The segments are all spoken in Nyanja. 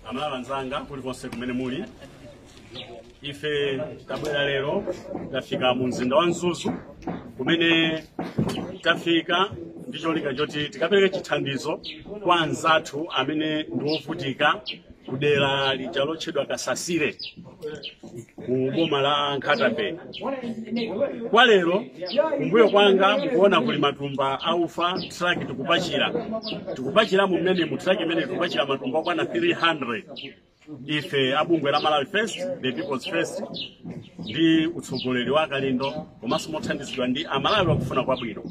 amalawi anzanga kulikonse kumene muli ife tabwera lero tafika mu mzinda wa mzuzu kumene tafika ndi cholinga choti tikapereke chithandizo kwa anzathu amene ndi ovutika kudera lija lotchedwa kasasire ku boma la nkhata bay kwa lero kumbuyo kwanga mukuona kuli matumba aufa truck tikupachira tikupachira mumene mu truck imene tikupachira matumba okwana 300 ife abungwe la malawi first the people's first ndi utsogoleri wa kalindo komanso mothandizidwa ndi amalawi akufuna kwabwino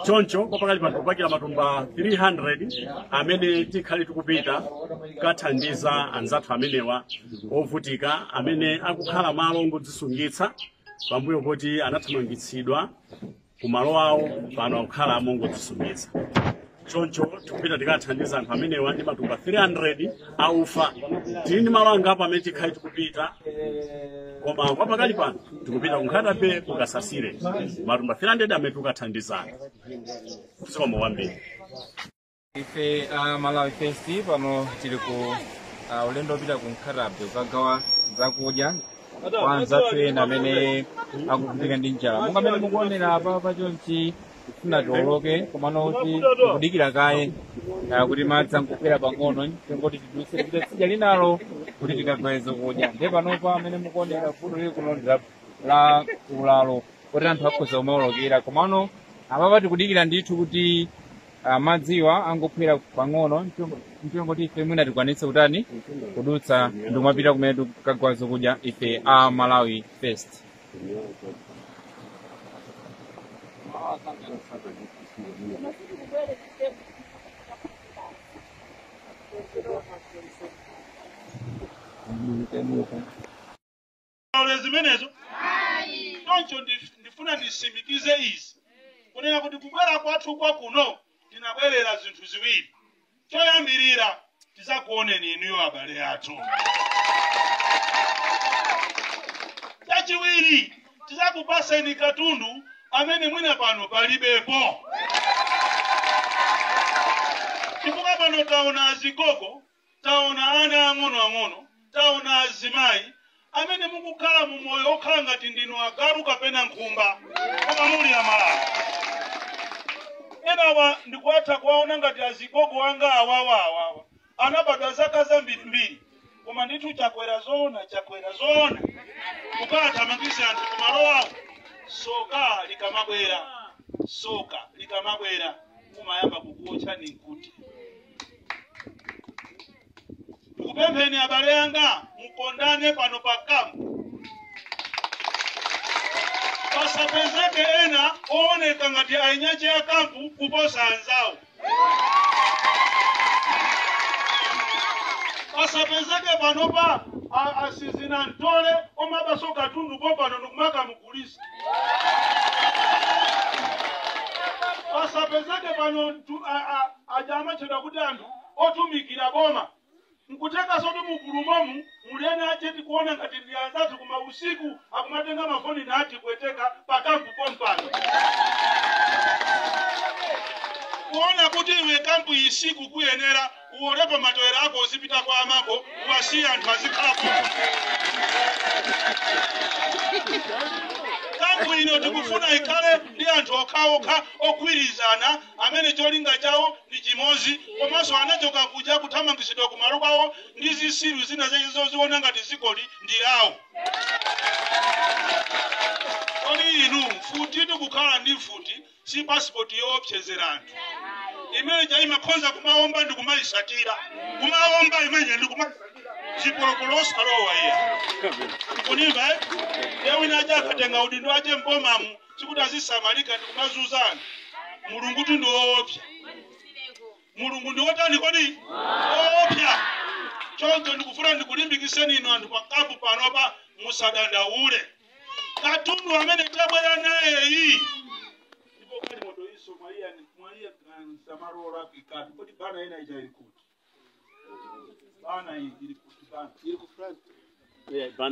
choncho kwa pakali pano tikupakira matumba 300 amene tikhale tikupita kukathandiza anzathu amenewa ovutika amene akukhala malo ongodzisungitsa pambuyo poti anathamangitsidwa ku malo awo pano akukhala mongodzisungitsa choncho tikupita tikathandiza anthu amenewa ndi matumba 300 aufa tili ndi malo angapo amene tikhale tikupita koma kwa pakali pano tikupita ku nkhata bay ku kasasire matumba 300 amene tikukathandiza zikomo kwambiri ife a malawi first pano tili ku ah, ulendo wopita ku nkhata bay kukagawa zakudya kwa anzathu ena amene akuvutika ndi njala monga amene mukuonera apa pachonchi tifuna tioloke komano kuti tikudikira kaye ah, kuti madzi angophwera pang'ono n'cholinga choti tiduse tipite tsidya linalo kuti tikagawe zokudya ndiye panopa amene mukuonera vuto lili kuno ndi la- la ulalo kuti anthu akhoza kumaolokera komano apapa tikudikira ndithu kuti ah, madziwa angophwera pang'ono n'cholinga choti ife mwina tikwanitse kutani kudutsa ndikumapita kumene tikagawa zokudya ife a malawi first Aone zimenezo choncho ndif- ndifuna ndisimikize izi kunena kuti kubwera kwathu kwa kuno tinabwerera zinthu ziwiri choyambirira tizakuoneni inuyo abale athu chachiwiri tizakupaseni katundu amene mwina pano palibepo chifukwa pano taona azigogo Taona ana ang'onoang'ono, taona azimai amene mukukhala mu moyo okhala ngati ndinu agalu kapena nkhumba, koma muli a Malawi. Enawa ndikuatha kuwaona ngati azigogo anga awawa awawa, anabadwa zaka zambirimbiri, koma ndithu Chakwera zoona, Chakwera zoona, kukathamangitsa anthu kumalo awo, soka likamabwera, soka likamabwera, kumayamba kukuotchani nkuti. ndikupempheni abale anga mukondane pano pa kampu pasapezeke ena ooneka ngati ainyache ya kampu kuposa anzawo pasapezeke panopa a- asizinamtole omabaso katundu pompano ndikumakamugulisa pasapezeke pano ntu- a- a- aja amatchedwa kuti anthu otumikira boma nkuthekanso kuti mugulumomu muli ena ache tikuona ngati ndi anzathu koma usiku akumatenga mafoni nati kuweteka pakampu pompano kuona kuti iwe kampu isikukuyenera uwolepo matewera ako uzipita kwa amako uwasiye anthu azikhala pompa kampu ino tikufuna ikhale ndi anthu okhaokha ogwirizana amene cholinga chawo ndi chimodzi komanso anachoka kuja akuthamangitsidwa ku malo kwawo ndi zisiru zina zache zoziona ngati zikoli ndi lawo kodi inu mfutitu kukhala ndi mfuti si pasipoti yoopsezera anthu imene ija imakhonza kumaomba ndi kumayisatira kumaomba imene ndi kumayisatira chipolopolo osalowa iya kunimva eh? ya ena aja akatenga udindo wache mbomamu sikuti azisamalika ndi kumazuza anthu mulungutu ndi woopsa mulungu ndi wotani kodi woopsa choncho ndikufuna ndikulimbikiseni inu anthu pakampu panopa musadandaule katundu amene tabwera nayeyu ndipo galimoto izo mwaiya mwaimitsa malo olakwikatu kodi bana ina ija ili kuti bana iyi ili kuti bana ili ku france Yeah, bana.